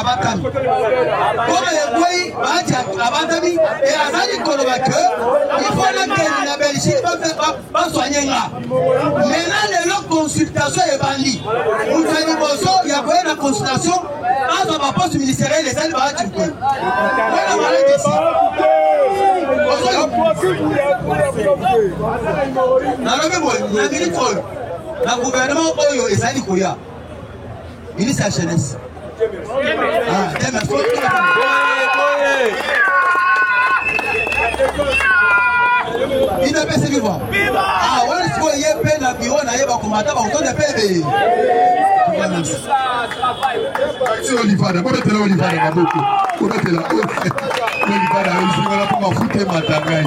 abakami oyo ekwei baati abakami e azali koloba ke ifo nakende na belgique basoigne nga mena lelo consultation ebandi moto ya liboso ya koye na consultation azwa baposte ministeriel ezali baati te wana malakisi nalobi boye na minute oyo Na gouvernement oyo ezali koya, ministre ya jeunesse ah, ino epesi viva ah, wana sikoyo ye mpe na biro na ye bakomata bakotonda mpe ebe si olivada bobetela olivada maboko bobetela olivada ezingala mpo mafuta emata ngai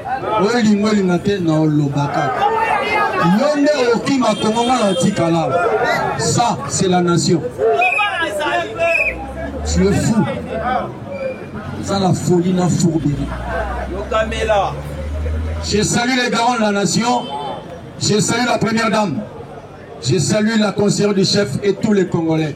Olinga olinga te na olobaka yo nde okima kongo nga na tikala ça c'est la nation tu es fou oza na folie na fourbeli yokamela je salue les garants de la nation je salue la première dame je salue la conseillère du chef et tous les congolais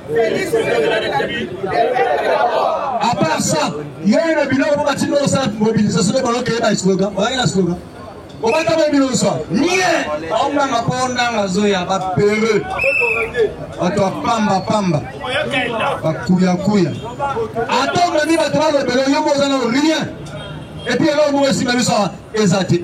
A part ça, yeye na biloko mpo batindi osala mobilisation nde balokeye ba slogan oyaki na slogan obata bo bino nyonso nie baonanga mpo ondanga zoya bapere bato ya pamba pamba bakuyakuya ata omemi bato balobela yo mpo oza na rien epuis eloko moko esimba biso awa eza te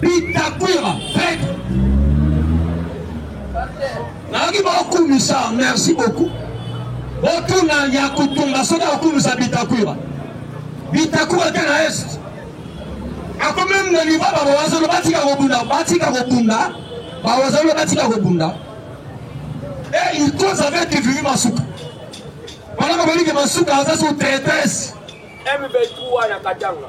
Bitakwira Fred nayoki baokumisa merci beaucoup botuna ya kutumba soki akokumisa Bitakwira Bitakwira te na est akomi na liva bawazolo batika kobunda batika kobunda bawazolo batika kobunda e il cause avec kivimi masuka wana bakoliki masuka aza sous traitesse M23 na Katanga.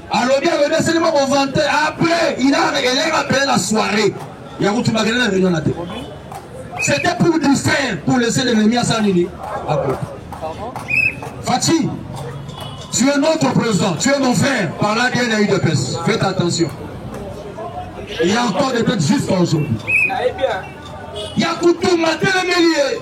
alobi alobi asili mwa kovante après il a elle est rappelé la soirée ya kutu bakende na réunion na te c'était pour du fer pour laisser l'ennemi asala nini akoka Fatih tu es notre président tu es mon frère par là bien na udps faites attention il y a encore des têtes jusqu'à aujourd'hui ya kutu matelemeli ye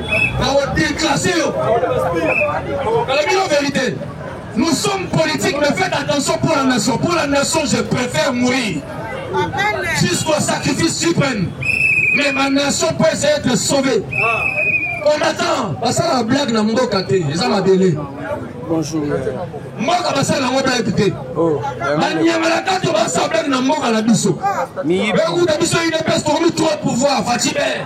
bakodeklase yo alobino verité nous sommes politiques mais faites attention pour la nation pour la nation je préfère mourir jusqu'au sacrifice suprême mais ma nation peut essayer d'être sauvée on attend basala blague na mboka te eza mabele bonjour mboka basala yango blague te banyamala kato basala blague na mboka na biso bekuta biso udps tokomi trop pouvoir facibe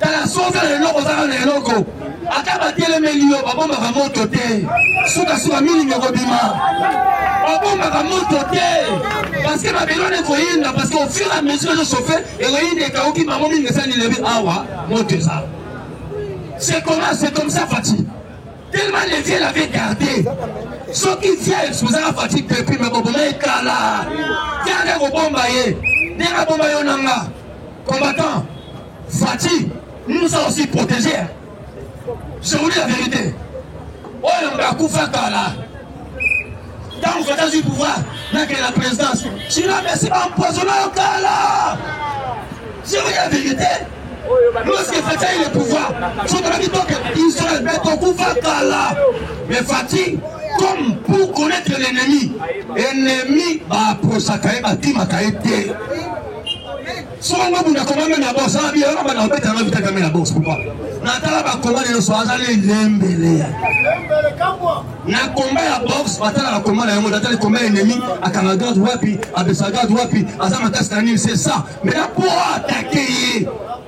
Tala soki oza na eloko oza kaka na eloko ata batelemeli yo babombaka moto te sukasuka milingi ekobima babombaka moto te parceke mabele wana ekoyinda parceke ofur a mesure ezosofe ekoyinda ekauki bango mingi esani lebi awa moto eza c'est comment c'est comme ça fati tellement le vieux l'avait gardé soki vieux esuzaka fati depuis me boboma ekala viande ekobomba ye ndenge abomba yo na nga Combattant, Fatshi, nous nous a aussi protégé. Je vous dis la vérité. Oyo mbe akufa kala. Ntango Fatshi azwi pouvoir nakende na présidence, China Messi baempoisonna yo kala. Je vous dis la vérité. Lorsque Fatshi a eu le pouvoir, soki tolaki toke Israël, mais tokufa kala. Mais Fatshi, comme pour connaître l'ennemi, ennemi baapprochaka ye, batimaka ye te. Soki nga mutu akomami na bourse wana biyo na bana obeta nga vita kami na bourse pourquoi natala bakoma na yoso azali elembele na komba ya bourse batala bakoma na yango natali komba ya ennemi akanga garde wapi abesa garde wapi aza makasi na nini c'est ça mais na po atake ye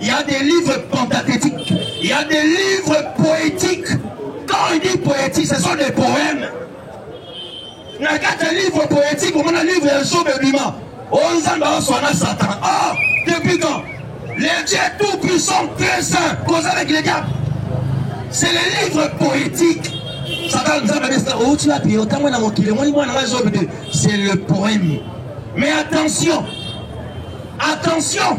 Il y a des livres pentathétiques, il y a des livres poétiques. Quand il dit poétique, ce sont des poèmes. na kati ya livre poétique omona livre ya job ebima o oh, nzambe aoswana satan ah depuis quand le dieu tout puissant très saint koza avec le diable c'est le livre poétique satan nzambe abesika outi oh, wapi otango na mokili omoni mwana ngai job de c'est le poème mais attention attention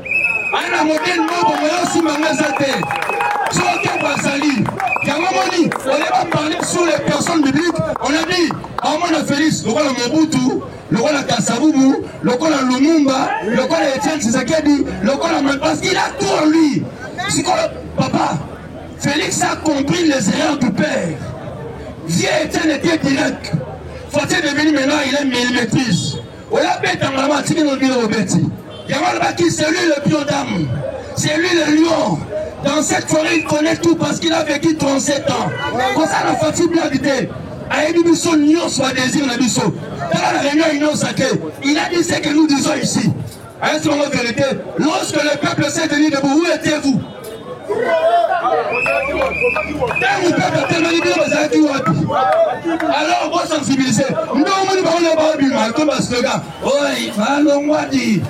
Ana modèle moko moyo simba nga eza te. Soki bazali yango moni oye ba parler sur les personnes bibliques on a dit amona Félix lokola Mobutu lokola Kasabubu lokola Lumumba lokola Etienne Tshisekedi lokola parce qu'il a tout en lui. Sikoyo papa Félix a compris les erreurs du père. Vieux Etienne était direct. Fatih est devenu maintenant il est millimétrise. Oya beta ngala atiki no bino obeti. Yango alobaki c'est lui le pion d'âme. C'est lui le lion. Dans cette forêt il connaît tout parce qu'il a vécu 37 ans. Kosa na fati blague te. ayebi biso nyonso badésir na biso tala na réunion inonsa te il a dit ce que nous disons ici Est-ce qu'on est vérité Lorsque le peuple s'est tenu debout, où étiez-vous ntango mpepo etemeli bino bazalaki wapi alors bosensibilize nde omoni bango na baobima to basloga oi balongwadi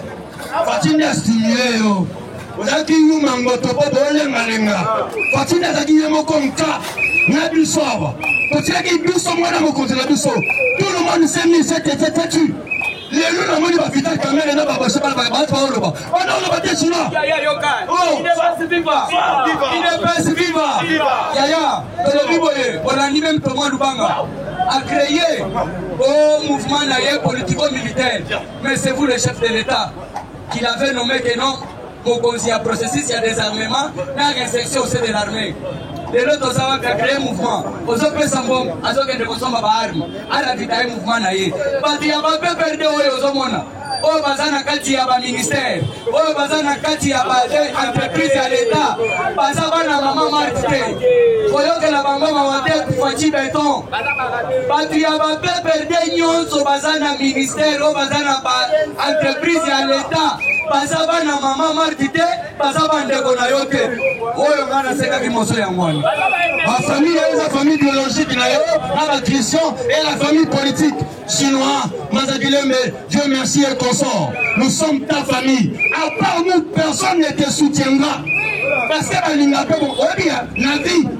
fatindi astimile yo ozalaki yuma ngoto mpo bolengalenga fatindi azalaki ye moko nka na biso awa totiaki biso mwana mokonzi na biso tout le monde semi sete tetatu lelo na moni ba vital kamere na babase bana bato baoloba bana oloba te suna idps viva yaya tolobi boye olandi meme toma lubanga a créé au mouvement na ye politico militaire mais c'est vous le chef de l'état qu'il avait nommé que non bokonzi ya processus ya desarmement na resection au sein de l'armée lelo toza wapi ya cree mouvement ozopesa mbongo azokende kosomba baarme alavitaye mouvement na ye bato ya bapeperde oyo ozomona oyo baza na kati ya baministere oyo baza na kati ya baentreprise ya leta baza bana mama marte te koyokela bango mawa te kufaci beton Batu ya ba PPRD nionso baza na ministère oyo baza na ba entreprise ya l'etat baza bana mama Marti te baza bandeko na yo te oyo ngai nasekaki moso yango wana bafamille oyo eza famille biologique na yo na bachristien et la famille politique chinois mazakilembe dieu merci et consort nous sommes ta famille à part nous personne ne te soutiendra parce que balinga mpe oyebi na vie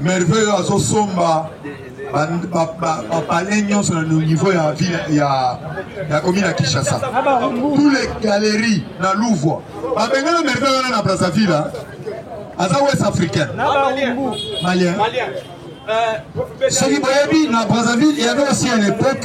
Merveille oyo azosomba bapale nyonso na niveau ya ville ya ya commune ya Kinshasa tous les galeries na Louvre babengana merveille wana na Brazzaville aza ouest africain malien soki boyebi na Brazzaville il y avait aussi à l'époque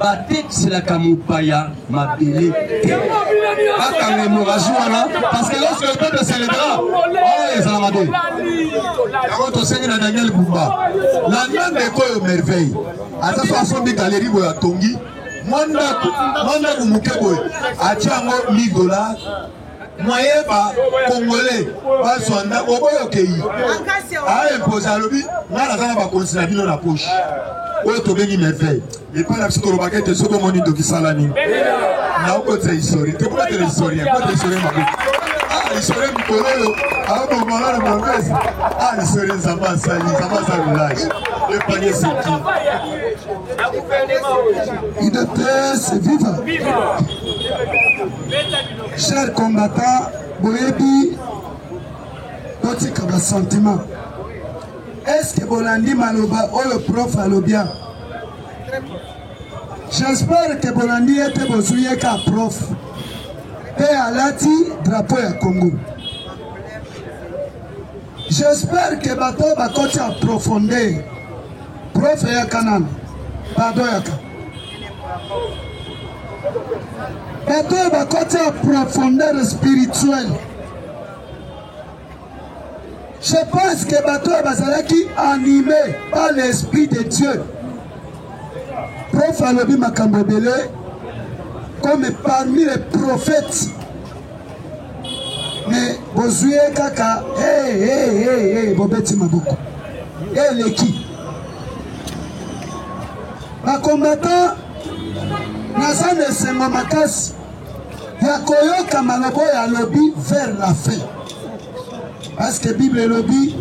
batekiselaka mopaya mabele te bakanga emoraji wana parce que lorsque le peuple celebra oyo ezala mabe yango tosengi na daniel bumba la même eko oyo merveille aza so asombi galeri boyo atongi mwa ndako mwa ndako moke boye atya yango 1000 dollars moyen ba congolais bazwa ndako oboyi okeyi aimposa ah, alobi ngai naza na bakonzi na bino na poche oyo tobengi merveille epai na biso tolobaka ete soki omoni ndoki sala nini naokotisa historie te kobatela historien kota historie mabe ah, historie mikolo oyo abomala na mangasi ah, historie nzambe asali nzambe asali village epanye seki idps viva Cher combattant, boyebi botika ba sentiment. Est-ce que bolandi maloba oyo prof alobia? J'espère que bolandi ye te bozwi ye ka prof mpe alati drapeau ya Congo. J'espère que bato oyo bakoti en profondeur prof eyaka nano pardon yaka bato oyo bakoti en profondeur spirituelle je pense que bato oyo bazalaki anime par l'esprit de dieu prof alobi makambo ebele comme parmi les prophètes mais bozwi ye kaka hey, hey, hey, hey, bobeti maboko eleki bakombatan naza na esengo makasi ya koyoka maloba oyo alobi vers la fin parce que bible elobi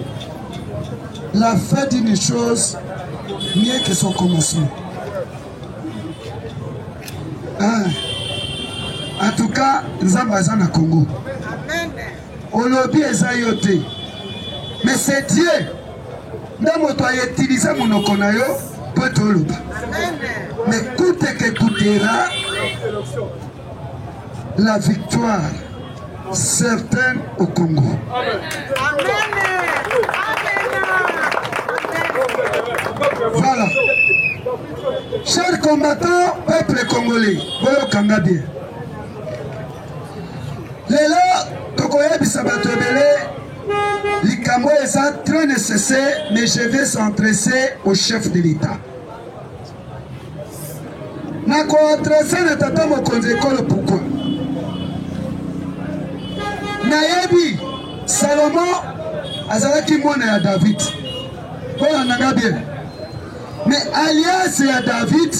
la fin d'une chose mieux que son commencement Ah. En tout cas, Nzamba aza na Congo. Olobi eza yo te. Mais c'est Dieu. Nde moto ayetilise monoko na yo mpo ete oloba. Mais kute ke kutera la victoire certaine au Congo. Amen. Voilà. Chers combattants, peuple congolais, boyoka nga bien. Lelo tokoyebisa bato ebele likambo eza très nécessaire mais je vais s'entresser au chef de l'État. na ko adresse na tata mokonzi ekolo pourquoi nayebi salomo azalaki mwana ya david bolanda nga bien me aliase ya david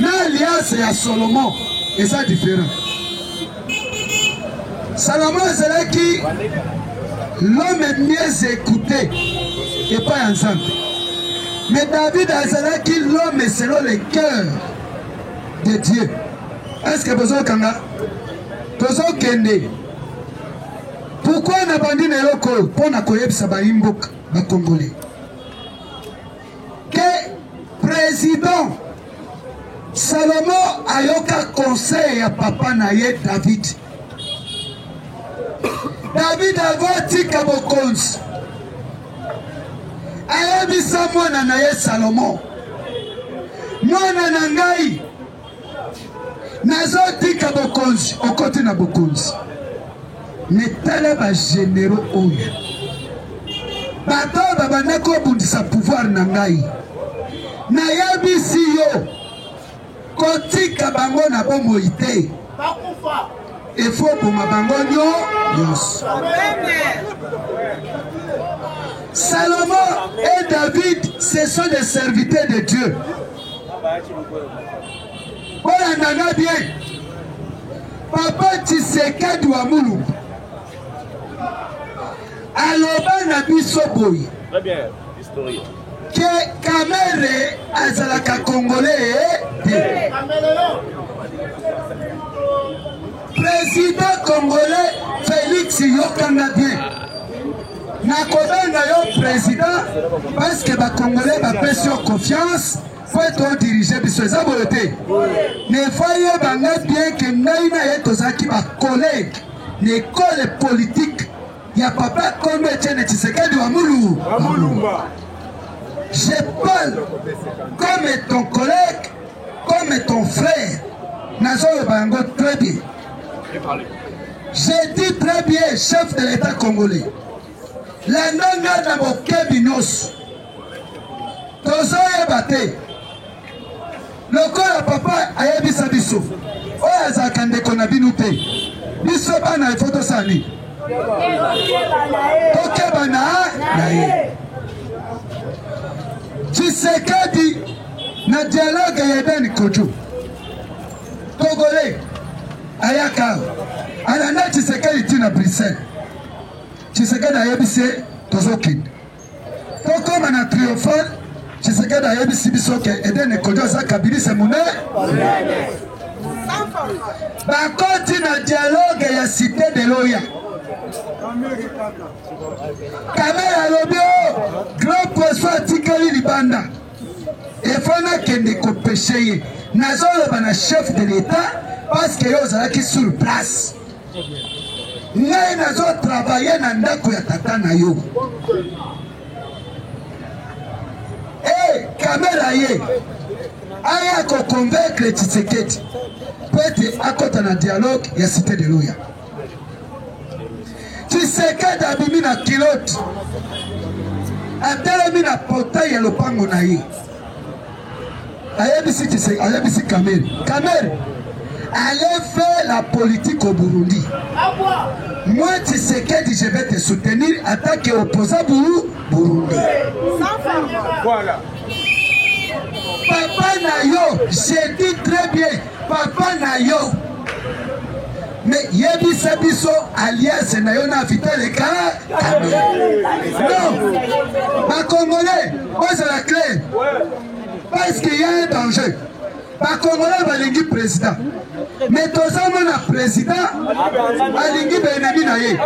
na aliase ya solomo eza différent Salomon azalaki l'homme mieux écouté epai ya Nzambe. Mais David azalaki l'homme selon le cœur de Dieu. Est-ce que bozo kanga tozo kende pourquoi nabandi na eloko mpo na koyebisa bayi mboka bakongole Ke president Salomo ayoka conseil ya papa na ye David. David avant atika bokonzi ayebisa mwana na ye Salomo, mwana na ngai Nazo tika bokonzi okoti na bokonzi me tala ba generaux oyo bato oyo babanda kobundisa pouvoir na ngai nayebisi yo kotika bango na bomoi te efo oboma bango nyo nyonso salomon et david ce sont des serviteurs de dieu Bolanda nga bien. Papa Tshisekedi wa Mulumba aloba na biso boye ke Kamere azalaka Congolais te. President congolais Felix yokanga bien nakobenga yo president parce que ba congolais bapesi yo confiance po ete odirige biso eza boye te nefa yeba nga bien ke ngai na ye tozalaki bacollege na ekole politike ya papa kombe etiene tshisekedi wa mulu je parle comme ton collègue Comme ton frère, nazoloba yango très bien. J'ai dit très bien, chef de l'État congolais. Landa nga na bokebi nyonso. Tozoyeba te. Lokola papa ayebisa biso, oyo azalaka ndeko na bino te. Biso bana ifo tosala nini? Tokeba na ye. Tshisekedi na dialogue ya Ben Kutu Congolais ayaka awa alanda Tshisekedi ti na Bruxelles. Tshisekedi ayebisi ye tozokende tokoma na triomphal. Tshisekedi ayebisi biso ke Edene Kojo aza kabilise monene bakoti na dialogue ya cité de loya kamere alobi o oh, grand poisson atikali libanda Il faut nakende kopeshe ye. Nazoloba na chef de l'etat parce que yo ozalaki sur place. ngai nazo travaille na ndako ya tata na yo e kamera ye aya koconvaincre tshisekedi mpo ete akɔta na dialogue ya cité de loya Tshisekedi abimi na kilote, atelemi na portail ya lopango na ye, ayebisi Tshisekedi, ayebisi Kamere, Kamere allez faire la politique au Burundi. Moi, Tshisekedi, je vais te soutenir en tant qu'opposant Burundi. Voilà. Papa Nayo, j'ai dit très bien, Papa na yo mais yebisa biso alliance na yo na vital ekala non bacongolais bozala clair parce que ya un danger bacongolais balingi président mais toza mona président alingi baennemi na ye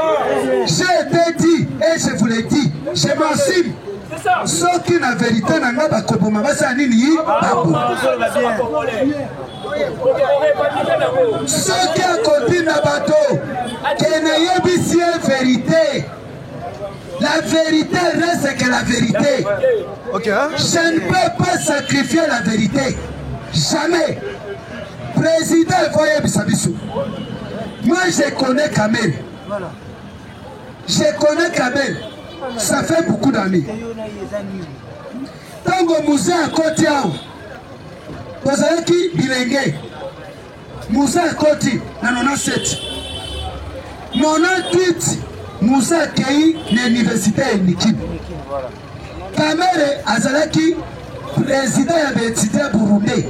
je te dit et je vous le dit je m'assume Soki na verite na nga bakoboma basala nini yi baboma soki akotinda bato ke nayebisi ye verite La vérité reste que la vérité. Okay, hein? Je ne peux pas sacrifier la vérité. Jamais. Président Voye Bissabisso. Moi, je connais Kamel. Voilà. Je connais Kabel, ça fait beaucoup d'amis. Tango Moussa akoti awa, tozalaki bilenge. Moussa akoti na 97. 98, Moussa akei na université ya Nikim. Kamere azalaki president ya baetudiant burundais.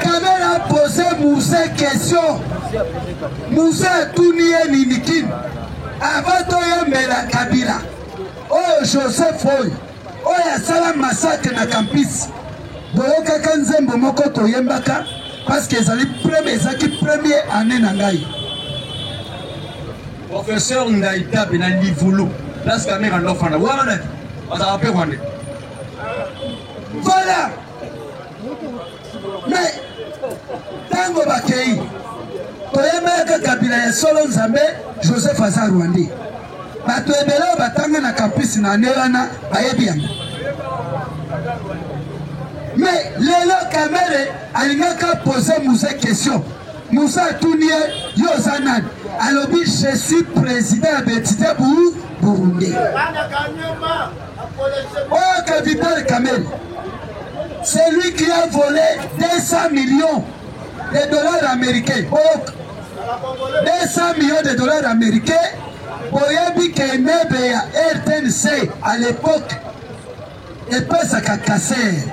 Kamere apose Muse question, Muse atuni ye nini kini avant toyembela Kabila oyo Joseph oyo Oyo asala massacre na campus boyokaka nzembo moko toyembaka parce que ezali premier ezaki premier année na ngai professeur Ndaitabe na Livulu place Kamerhe andofana wana nani azalaka mpe rwandais voilà Mais tango bakei toyebaka kabila ya solo nzambe joseph aza rwandais bato ebele oyo batanga na campus na ane wana bayebi yango me lelo kamere alingaka pose muse question muse atuni ye yo oza nani alobi je suis président ya betite bu burundais Oyo ka Vital Kamerhe, c'est lui qui a volé 200 millions de dollars américains. Boyoka. 200 millions de dollars américains. Boyebi que meuble ya RTNC à l'époque epesaka kasere.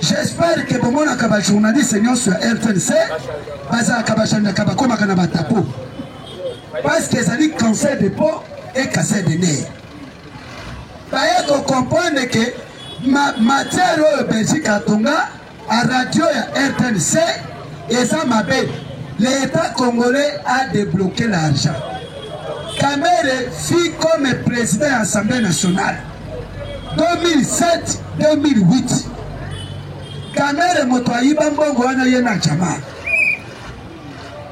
J'espère que bomonaka ba journaliste nyonso ya RTNC bazalaka bachandaka bakomaka na batapo parce que ezali cancer de peau et cancer de nerf. Baye ko comprendre que ma matière oyo Belgique atonga a radio ya RTNC eza mabe. L'Etat congolais a debloquer l'argent. Kamere fut comme président ya Assemblée nationale 2007-2008. Kamere moto ayiba mbongo wana ye na jamaa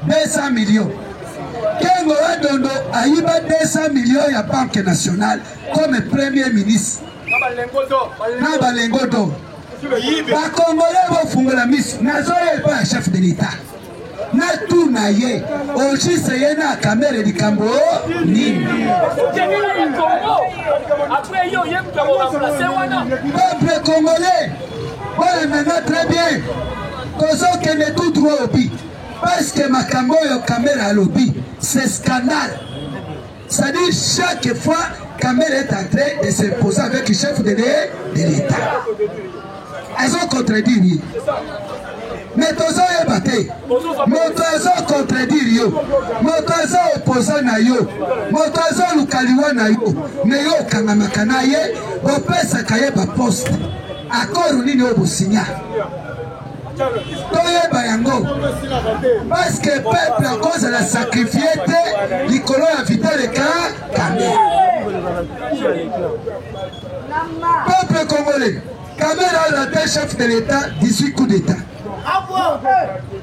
200 millions kengo wa dondo ayiba 200 millions ya banque nationale comme premier ministre na balengo do bakongole bofungola miso nazoya epai ya chef de l'etat natuna ye ojise ye na kamere likambo nini peuple congolais bolanda nga très bien tozokende tout droit au but parce que makambo oyo kamere alobi c'est scandale c'est-à-dire chaque fois kamere est en train de se poser avec chef de l'état azocontredire ye me tozoyeba te moto azocontredire yo moto aza opoza na yo moto azoluka liwa na yo me yo okangamaka na ye bopesaka ye baposte akoro nini oyo bosinya Toyeba yango parce que peuple akozala sacrifier te likolo ya Vital Eclair Kamerhe. Peuple congolais, Kamerhe a raté chef de l'État 18 coups d'État.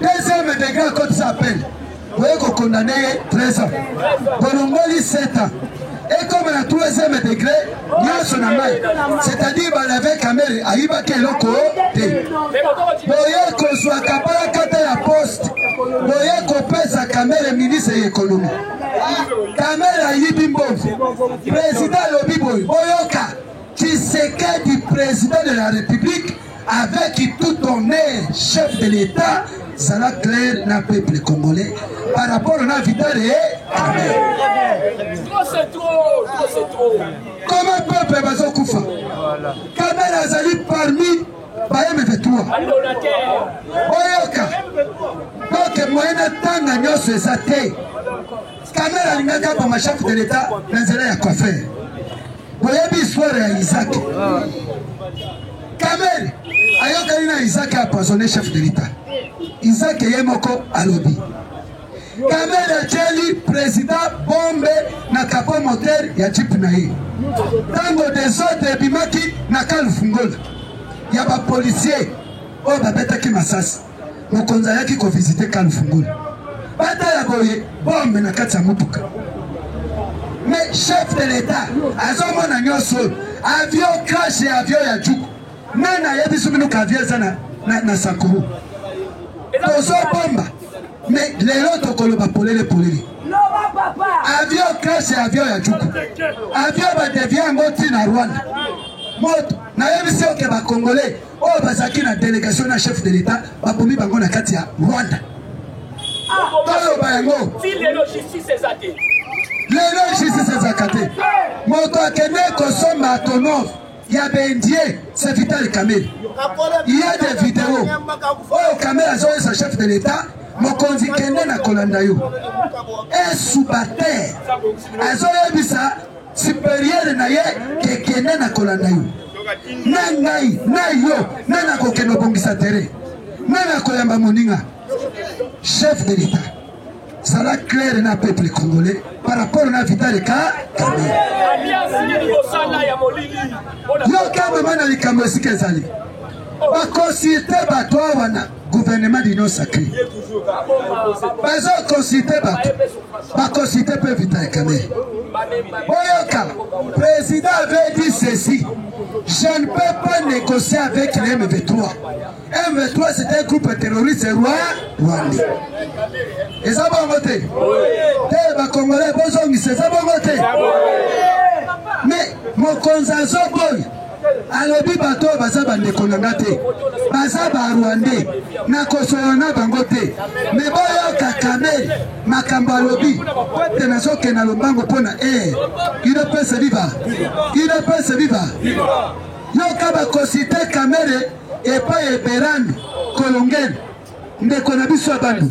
Deuxième degré akotisa appel boye ko condamne ye 13 ans bolongoli 7 ans ekoma na troisième degré nyonso na mai c'est-à-dire balave kamere ayibaki eloko te boye kozwa kapalakata ya poste boye kopesa kamere ministre ya ekonomi kamere ayibi mbongo président alobi boye boyoka tshisekedi président de la république Avec tout honneur chef de l'etat zala clair na peuple congolais par rapport na Vital et Kamerhe. Comment peuple bazokufa? Kamerhe azali parmi baye mevetua oyoka donc moyen atanga nyonso eza te Kamere alingaki aboma chef de l'etat na nzela ya cofer. Boyebi histoire ya Isaac. Kamere ayokani na Isaac apoisonne chef de l'etat. Isaac ye moko alobi. Kamere atyeli president bombe na capot moteur ya jeep na ye. Ntango desordre ebimaki na kalfungola ya bapolisier oyo babetaki masasi. Mokonzi ayaki ko visiter Khan Fungul. Batala boye bombe na kati ya motuka. Mais chef de l'etat azomona nyonso oyo. Avion crash ya avion ya Djuku. Nani ayebisi bino ka avion eza na, na, na Sakuru? Tozobomba. Mais lelo tokoloba polele polele. Avion crash ya avion ya Djuku. Avion badevia yango ntina Rwanda. Moto nayebisi oke bakongole Oyo bazalaki na delegation na chef de l'etat babomi bango na kati ya Rwanda. Toloba ah, yango. Ti lelo justice eza te. Lelo justice ezaka te. Moto akende kosomba tonov Il y a Bendie, c'est Vital Kamel. Il y a des vidéos. Oh, Kamel a joué sa chef de l'État. mokonzi kende na kolanda yo esuba te azoyebisa superieur na ye kekende na kolanda yo na ngai na yo na nakokende obongisa tere na nakoyamba moninga chef de l'etat zala claire na peuple congolais par rapport na vitale ka yoka mama na likambo esika ezali bakonsulte bato awana gouvernement d'union sacré bazo consulte bato baconsulte mpe vita ya kamere boyoka président avait dit ceci je ne peux pas négocier avec les mv3 mv3 c'est un groupe terroriste roi rwandais eza bongo te te bacongolais bozongisa eza bongo te mais mokonzi azoboyi Alobi bato oyo baza bandeko na nga te, baza barwande, nakosolola na bango te. Me boyoka Kamel makambo alobi te, nazokende na lombango mpo na air. Udps viva! Udps viva! Yoka bakosite Kamere epai eberani kolongene ndeko na biso ya bandu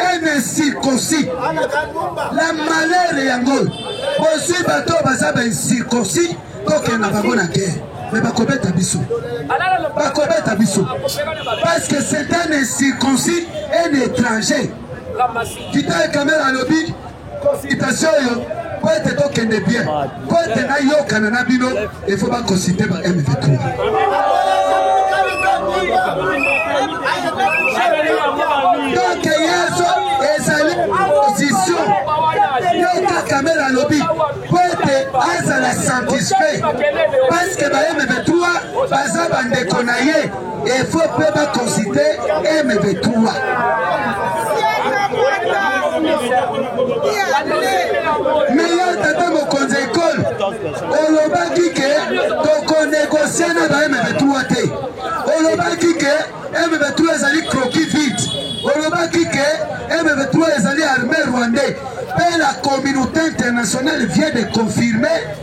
un incirconcis la malheur yango bozwi bato oyo baza ba incirconcis tokende na bango na guerre me bakobeta biso bakobeta biso parce que c'est un incirconcis un étranger vital kamere alobi Consultation oyo po ete tokende bien, po ete nayokana na bino il faut ba consulter ba M23. Donc Yesu ezali position yo kaka mele alobi po ete azala satisfait parce que ba M23 baza bandeko na ye. Il faut peut pas consulter MV3. Meilleur tata mokonzi ekole olobaki ke tokonegosie na ba MV3 te olobaki ke MV3 ezali croquis vide olobaki ke MV3 ezali armée rwandais mpe la communauté internationale vient de confirmer